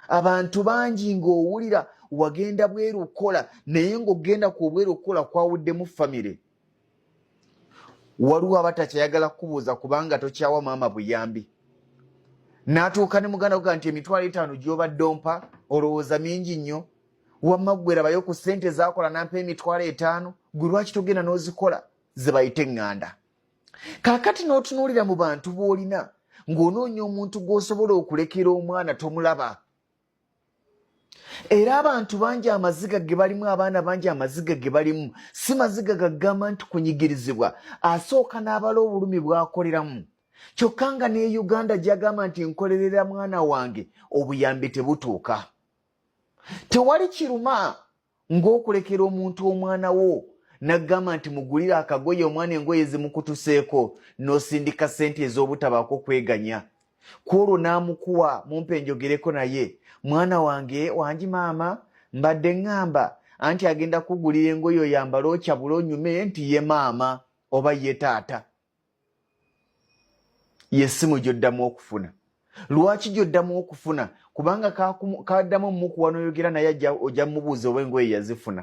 abantu bangi ng'owulira wagenda bweru okukola naye ng'ogenda ku obweru okukola kwawuddemu famire waliwo abatakyayagala kukubuuza kubanga tokyawa maama buyambi n'atuuka ne muganda kuga nti emitwalo etaano gy'obadde ompa olowooza mingi nnyo wamma ggwerabayo ku ssente zaakola nampa emitwalo etaano gwe lwaki togenda n'ozikola ze bayite eŋŋanda kaakati n'otunuulira mu bantu b'olina ng'onoonya omuntu gw'osobola okulekera omwana tomulaba era abantu bangi amaziga ge balimu abaana bangi amaziga ge balimu si maziga gagamba nti kunyigirizibwa asooka n'abala obulumi bw'akoleramu kyokka nga ne uganda gyagamba nti nkolerera mwana wange obuyambi tebutuuka tewali kiruma ng'okulekera omuntu omwana wo n'agamba nti mugulire akagoye omwana engoye zimukutuseeko n'osindika ssente ez'obutabaako kweganya ku olwo n'amukuwa mumpe njogereko naye mwana wange wangi maama mbadde ŋŋamba anti agenda kugulira engoye oyambale okyabula onyume nti ye maama oba ye taata yesimu gyoddamu okufuna lwaki gyoddamu okufuna kubanga kaddamu omukuwa noyogera naye ojja mubuuza oba engoye yazifuna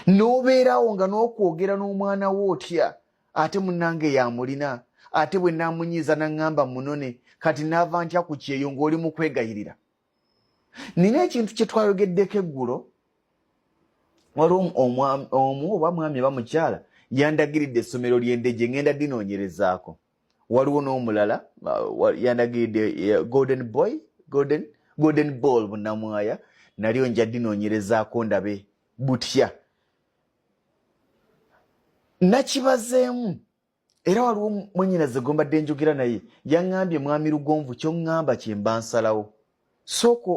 nobeerawo nga nokwogera n'omwana wo otya ate munange yamulina ate bwe namunyiiza naŋŋamba munone kati naava ntya ku kyeyo ng'oli mu kwegayirira nina ekintu kyetwayogeddeko eggulo waliwo omu oba mwami oba mukyala yandagiridde essomero ly'endeje ngenda dinoonyerezaako waliwo n'omulala yandagiridde eh, golden boy golden golden ball bunamwaya nalyo nja dinoonyerezaako ndabe butya nakibazeemu era waliwo mwenyinaze gwe mbadde njogera naye yaŋŋambye mwami lugonvu kyoŋŋamba kye mba nsalawo sooka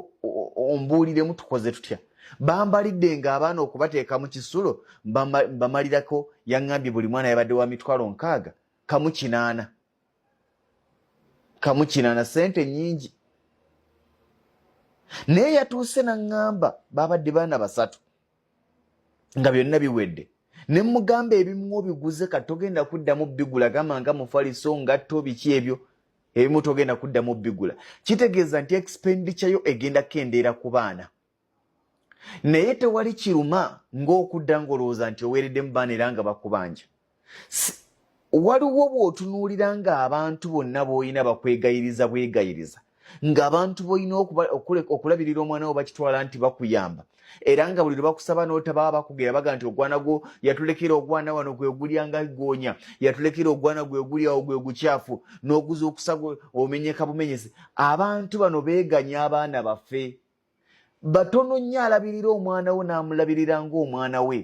ombuuliremu tukoze tutya bambalidde ng'abaana okubateeka mu kisulo mbamalirako yaŋŋambye buli mwana yabadde wa mitwalo nkaaga kamu kinaana kamu kinaana ssente nnyingi naye yatuuse naŋŋamba baabadde baana basatu nga byonna biwedde ne mugamba ebimu obiguze ka togenda kuddamu bigula gamba nga mufaliso ngatto biki ebyo ebimu togenda kuddamu bigula kitegeeza nti expenditure yo egenda kendeera ku baana naye tewali kiruma ng'okudda ng'olowooza nti oweereddemu baana era nga bakubanja waliwo bw'otunuulira ng'abantu bonna b'olina bakwegayiriza bwegayiriza ng'abantu b'olina okulabirira omwana wo bakitwala nti bakuyamba era nga buli lwe bakusaba n'otabaa bakugera baga nti ogwana gwo yatulekera ogwana wano gwe gulya nga goonya yatulekera ogwana gwe guli awo gwe gukyafu n'oguza okusa gwe omenyeka bumenyezi abantu bano beeganya abaana baffe batono nnyo alabirira omwana wo n'amulabirira ng'omwana we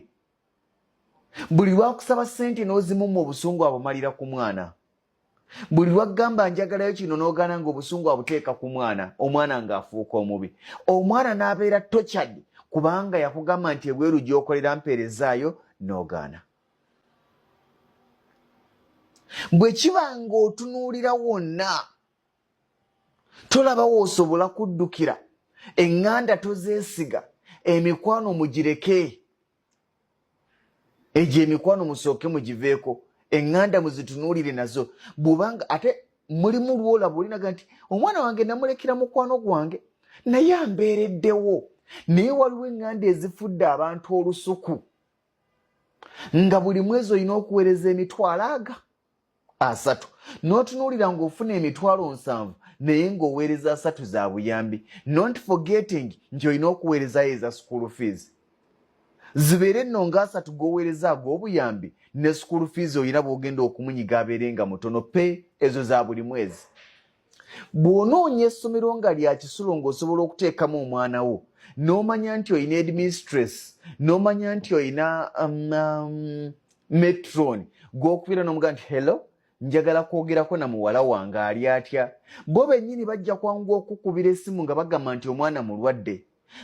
buli lwakusaba sente n'ozimumma obusungu abumalira ku mwana buli lwakugamba njagalayo kino n'ogaana nga obusungu abuteeka ku mwana omwana ng'afuuka omubi omwana n'abeera tochad kubanga yakugamba nti ebweru gyokolera mpeerezaayo n'ogaana bwe kiba ng'otunuulira wonna tolaba woosobola kuddukira eŋŋanda tozeesiga emikwano mugireke egyo emikwano musooke mugiveeko eŋŋanda muzitunuulire nazo bwubanga ate mulimu lwolaba olinaga nti omwana wange namulekera mukwano gwange naye ambeereddewo naye waliwo eŋŋanda ezifudde abantu olusuku nga buli mwezi olina okuweereza emitwalo aga asatu n'otunuulira ng'ofuna emitwalo nsanvu naye ng'oweereza asatu za buyambi not forgetting nti olina okuweerezayo eza school fees zibeere nno ng'asatu g'oweereza ag'obuyambi ne school fees olina bw'ogenda okumunyiga abeere nga mutono pe ezo za buli mwezi bw'onoonya essomero nga lya kisulo ng'osobola okuteekamu omwana wo n'omanya nti olina edmistress n'omanya nti olina um, um, metron gw'okubeera n'omuga nti hello njagala kwogerako na muwala wange ali atya bo bennyini bajja kwangu okukubira essimu nga bagamba nti omwana mulwadde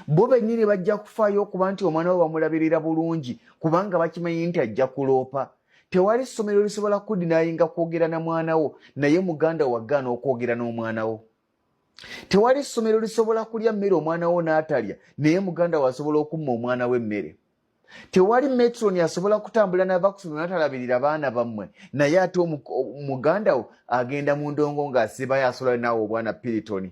bo bennyini bajja kufaayo okuba nti omwana we bamulabirira bulungi kubanga bakimanyi nti ajja kuloopa tewali ssomero lisobola kudinaayinga kwogera na mwana wo naye muganda wagaana okwogera n'omwana wo tewali ssomero lisobola kulya mmere omwana wo n'atalya naye muganda wo asobola okumma omwana we emmere tewali metroni asobola kutambula nava ku somero natalabirira baana bammwe naye ate muganda wo agenda mu ndongo ng'asibayo asobola naawe obwana piritoni